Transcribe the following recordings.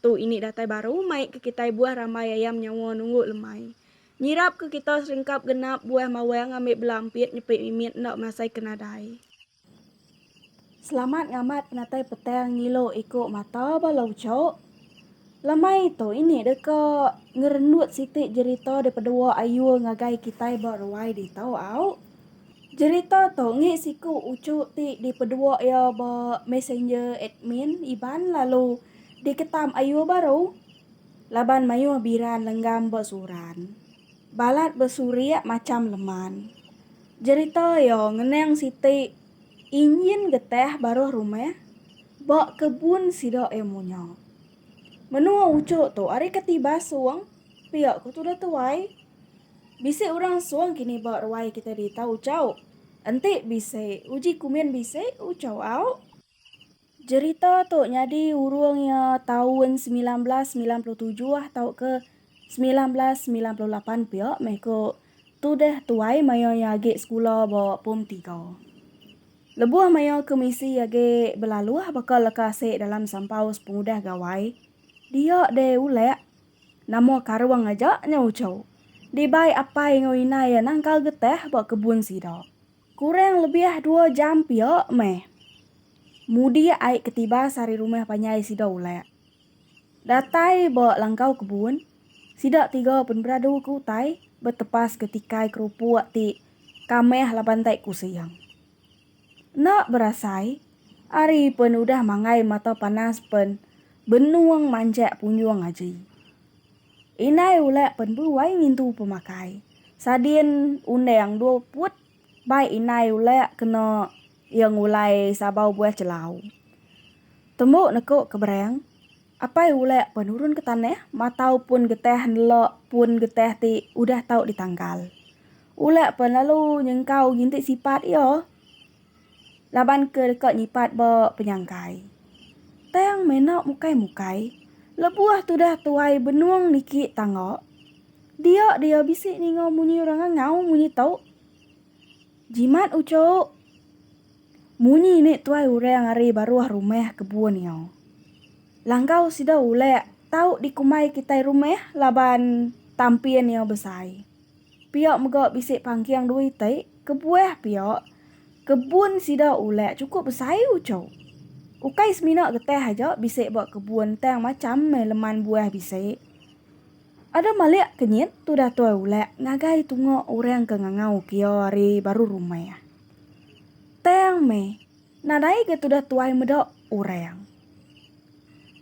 Tu ini datai baru mai ke kitai buah rambai ayam nyawa nunggu lemai. Nyirap ke kita seringkap genap buah mawang ngambi bela ampit nyepi mimit enda masai ke nadai. Selamat ngamat penatai petang ngilu iku mata bala ucuk. Lemai tu ini deka ngerendut siti jerita dipedua Ayul ngagai kitai ba ruai ditu au. Jerita tu enggi siku ucuk ti dipedua iya ba messenger admin Iban lalu Diketam ayuh baru laban mayuh biran lenggam besuran. Balat besurik macham leman. Jerita iya ngenang siti injin getah baruh rumah ba kebun sida ilmu nya. Menua Uchuk tu ari keti Basung pia ku tuda tuai. Bisi orang Sung kini ba ruai kita di Tau Chau. Enti bisi uji kumin bisi Uchau au. Jerita tu nyadi urung iya taun semilan belas semilan puluh tujuh tauka semilan belas semilan puluh lapan pia meh ku Tudeh tuai maya iya agi sekula ba pom tiga. Lebuh maya kemisi iya agi belaluh baka leka asi dalam sampau sepengudah gawai, dia deh ulek. Nama karung aja nyau chau. Dibai apai enggau inai iya nangkal getih ba kebun sida. Kurang lebih dua jam pia meh. Mudi ai ke tibas ari rumah panjai sida ulak. Datai ba langkau kebun, sida tiga penberadu ke utai betepaska tikai kerupuk ti kamah laban tai kusing. Enda berasai, hari pen udah manggai mata panas pen benung manjak punjung aji. Indai ulek pen buai ngintu pemakai. Sadin undang dua put bai indai ulek kena ia ngulai sabau buah celau. Tembu neko ke berang, apai ulek pen nurun ke tanah matau pun getah nelok pun getah ti udah tau ditangkal. Ulek pen lalu nyengkau ginti sipat ia. laban ke deka nyipat ba penyangkai. Tang mena mukai-mukai, lebuh tudah tuai benung niki tangga, dia dia bisi ninga munyi orang ngangau munyi tu. Jimat ucuk. Munyi ni tuai orang ari baruh rumah kebun iya. Langkau sida ulek tau dikumbai kitai rumah laban tampin iya besai. Pia mega bisi pangking dua iti, kebuah pia kebun sida ulak chukup besai uchu. Ukai semina getih aja bisi ba kebun tang macham meh leman buah bisi. Ada malik kenyit tu datoi ulak ngagai tunga orang ke ngangau kia ari baru rumah. Tang meh nadai ga tudah tuai meda orang.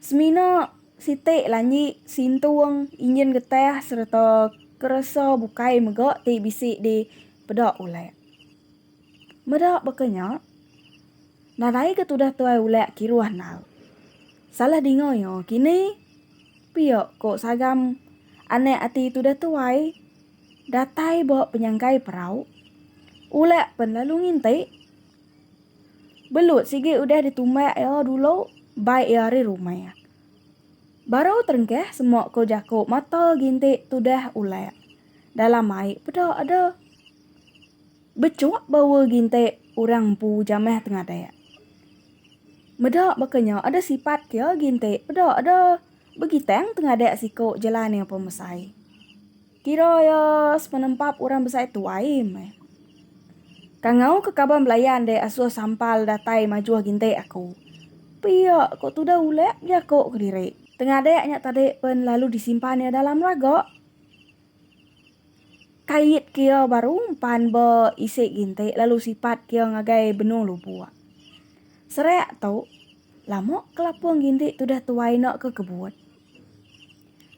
Semina. Siti lanji sintung injin getah sereta keresa bukai mega ti bisi dipeda Ulak. Meda baka nya, nadai ke tudah tuai Ulak kiruh endar. Salah dinga iya kini pia ko Sagam anak ati tudah tuai datai ba penyangkai perau, Ulak pen lalu nginti. Belut sigi udah ditumbak iya dulu bai iya ari rumah. Baru terengkah semua ko jako mata ginti tudah ulak. Dalam ai peda ada bechuk bawa ginti orang empu jamah tengadah. Meda baka nya ada sipat ke ginti peda ada begitang tengadah siko jelan iya pemesai. Kira iya sepenempap orang besai tuai meh. Kangau ke kaban belayan deh asuh sampal datai majuh gintik aku. Pia ko tudah ulek bejako kediri. Tengadek nya tadi pen lalu disimpan iya dalam raga. Kait ke iya baru empan ba isi gintik lalu sipat ke iya ngagai benung lubuk. Serak tu, lama ke lapung gintik tudah tuai enda ke kebut.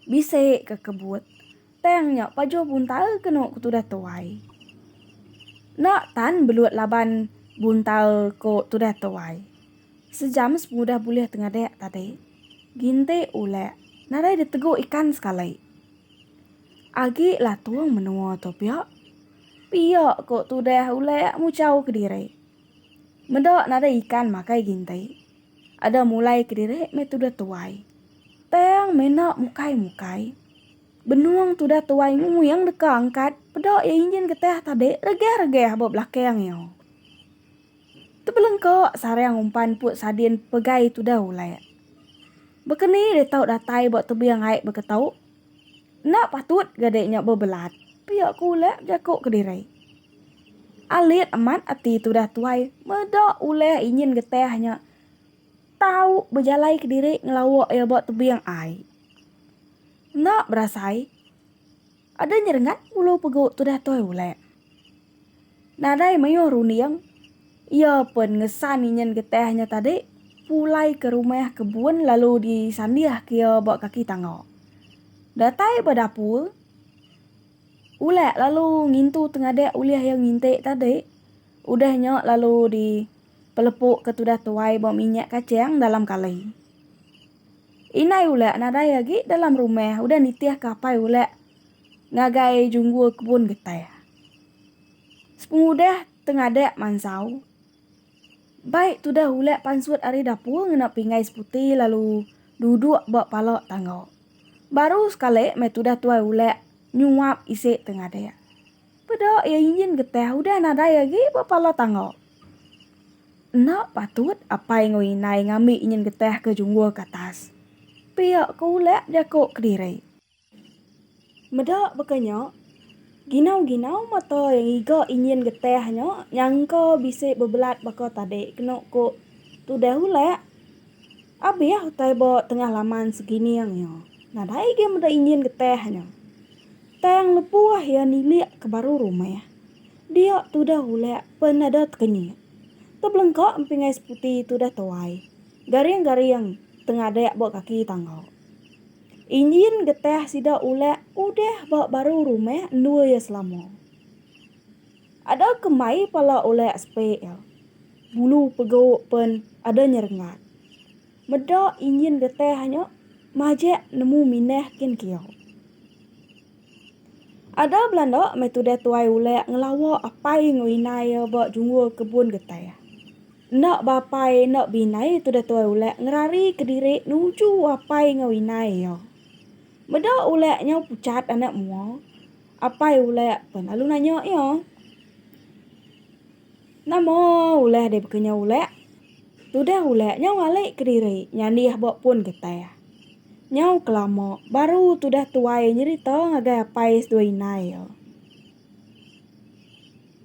Bisi ke kebut. Tang nya pajuh buntal kenu ku tudah tuai. Enda tan belut laban buntal ku tudah tuai. Sejam semudah bulih tengadik tadi. Ginti ulek nadai ditegu ikan sekali. Agi latung menua tu pia. Pia ku tudah ulek muchau kediri. Meda nadai ikan makai ginti. Ada mulai kediri meh tudah tuai. Tang mena mukai-mukai. Benung tudah tuai nguyang deka angkat peda iya injin getah tadi regah-regah ba belakang iya. Tebelengka sarang umpan put sadin pegai tudah ulek. Baka ni deh tau datai ba tebing ai baka tu? Enda patut ga deh nya bebelat, pia ku ulek bejako kediri. Alit amat ati tudah tuai meda ulih inyin getih nya tau bejalai kediri ngelawa iya ba tebing ai. Enda berasai adeh nyerengat ngulu pegu tudah tuai ulih. Nadai mayuh runding iya pen ngesan inyin getih nya tadi pulai ke rumah kebun lalu disandihka iya ba kaki tangga. Datai ba dapur. Ulak lalu ngintu tengadak ulih iya ngintik tadi. Udah nya lalu di pelepuka tudah tuai ba minyak kachang dalam kali. Indai ulak nadai agi dalam rumah udah nitih ke apai ulak ngagai junggul kebun getah. Sepengudah tengadak mansau Bai tudah ulak pansut ari dapur ngena pinggai seputi lalu duduk ba pala tangga. Baru sekali meh tudah tuai ulak nyuap isi te ngadik. Peda iya injin getah udah nadai agi ba pala tangga. Enda patut apai enggau indai ngambi injin getah ke junggur ke atas. Pia ke ulak jako kediri. Meda baka nya, ginau-ginau mata iya ngiga injin getih nya nyangka bisi bebelat baka tadi kenu ku Tudah Ulak abih utai ba tengah laman Segining nya. Nadai agi meda injin getih nya. Tang lebuh iya nilik ke baru rumah, dia Tudah Ulak pen ada tekenyit. Tebelengka empingai seputi Tudah Tuai garing-garing tengadik ba kaki tangga. Injin getah sida ulak udah ba baru rumah endur iya selama. Ada ke mai pala ulak spek iya. Bulu pegu pen ada nyerengat. Meda injin getah nya majak nemu minah kin kiau. Ada belanda meh tudah tuai ulek ngelawa apai enggau indai iya ba jungul kebun geteh. Enda ba apai enda ba indai tudah tuai ulek ngerari ke diri nuju apai enggau indai iya. Meda ulek nyau puchat anak mua, apai ulek pelalu nanya iya. Nama ulah deh bekenyau ulah. Tudah ulah nyau alik kediri nyandih ba pun getah. Nyau kelama baru tudah tuai nyerita ngagai apai seduai indai iya.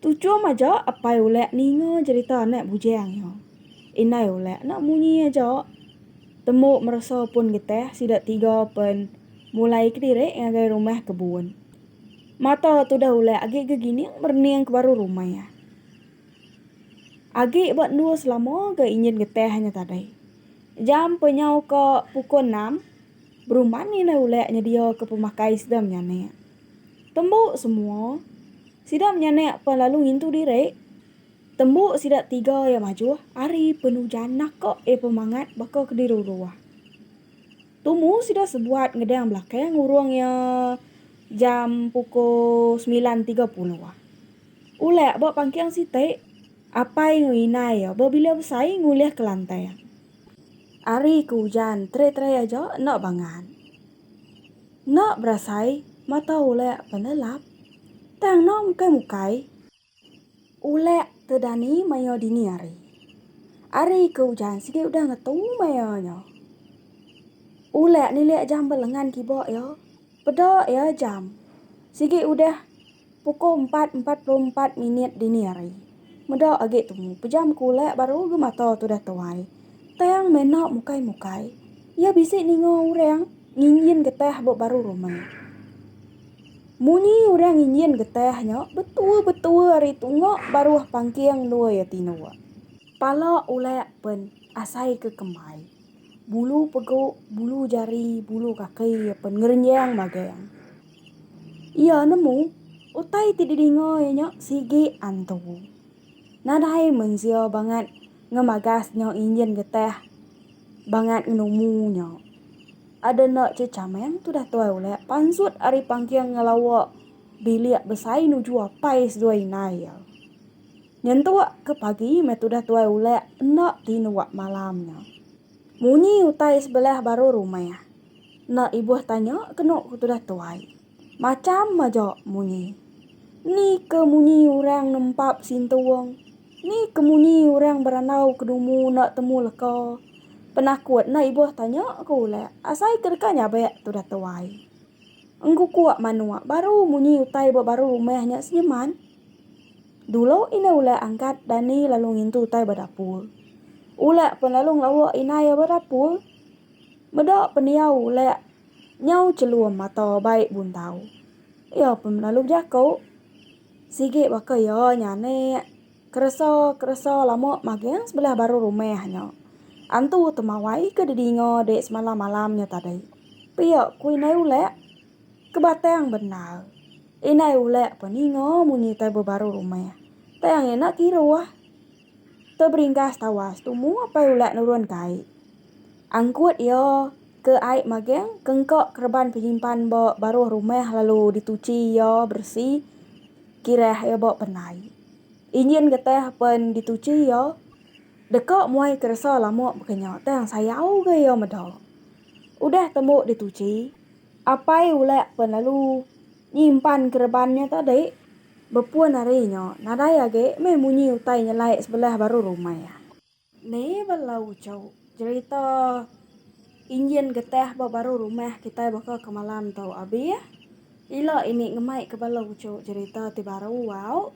Tuchum aja apai ulah ninga jerita anak bujang iya. Indai ulah enda munyi aja. Tembu meresa pun getah sida tiga pen mulai kediri ngagai rumah kebun. Mata tudah ulai agi ga gining merening ke baru rumah iya. Agi ba endur selama ga injin getah nya tadai. Jam pe nyau ka pukul enam, beruman nindah ulai nyedia ke pemakai sida menyanak. Tembu semua, sida menyanak pan lalu ngintu diri. Tembu sida tiga iya majuh ari penujan naka iya pemangat baka ke diruruh. Tumu sida sebuat ngedang belakang urung iya jam pukul semilan tiga puluh. Ulak ba pangking siti, apai enggau indai iya bebila besai ngulih kelantang. Ari ke ujan terai-terai aja enda bangat. Enda berasai mata ulak penelap tang enda mukai-mukai. Ulek te dani maya dini hari. Ari ke ujan sigi udah ngetu maya nya. Ulek nilek jam belengan kiba iya. Peda iya jam sigi udah pukul empat empat puluh empat minit dini hari. Meda agi tumu pejam ke ulek baru agi mata tudah tuai. Tang mena mukai mukai. Iya bisi ninga orang nginjin getah ba baru rumah. Munyi orang nginjin getah nya betua-betua ari tunga baruh pangking endur iya tinduk. Pala ulak pen asai ke kemai. Bulu pegu, bulu jari, bulu kaki iya pen ngerenjang magang. Iya nemu utai ti didinga iya nya sigi antu. Nadai mensia bangat ngemagas nya nginjin getah bangat ngenumu nya. Ada enda che chameng tudah tuai ulek pansut ari pangking ngelawa bilik besai nuju apai seduai inai iya. Nyentuk ke pagi meh tudah tuai ulek enda ti nuak malam nya. Munyi utai sebelah baru rumah. Enda ibuh tanya kenu ku tudah tuai. Macham aja munyi. Ni ke munyi orang nempap sintung? Ni ke munyi orang berandau ke dumu enda temu leka? Penakut enda ibuh tanya ke ulak asai ke deka nyabak tudah tuai. Engkukuk manuk baru munyi utai ba baru rumah nya senyeman. Dulu indah ulak angkat dani lalu ngintu utai ba dapur. Ulak pen lalu ngelauk inai ba dapur. Meda pendiau ulak. Nyau chelum mata bai buntau. Iya pun lalu bejaku. Sigi baka iya nyanik. Keresa, keresa lama maging sebelah baruh rumah nya. Antu Temawai ke didinga dek semalam-malam nya tadi. Pia ku Indai Ulek. Kebatang bendar. Indai Ulek pun ninga munyi tai bebaruh rumah. Tang iya enda kiruh. Te beringgas tawas tu mu apai ulat nurun ke ai. Angkut ia ke ai maging ke engka kereban penyimpan ba baruh rumah lalu dituchi ia beresi kirah ia ba penai. Injin getah pen dituchi ia deka muai keresa lama baka nya tang sayau ga ia meda. Udah tembu dituchi. Apai ulek pun lalu nyimpan kereban nya tadi. Bepun ari nya, nadai agi meh munyi utai nyelai sebelah baru rumah iya. Ni bela uchu jerita injin getah ba baru rumah kitai baka ke malam tu, Abi? Ila ini ngemaika bala uchu jerita ti baru au.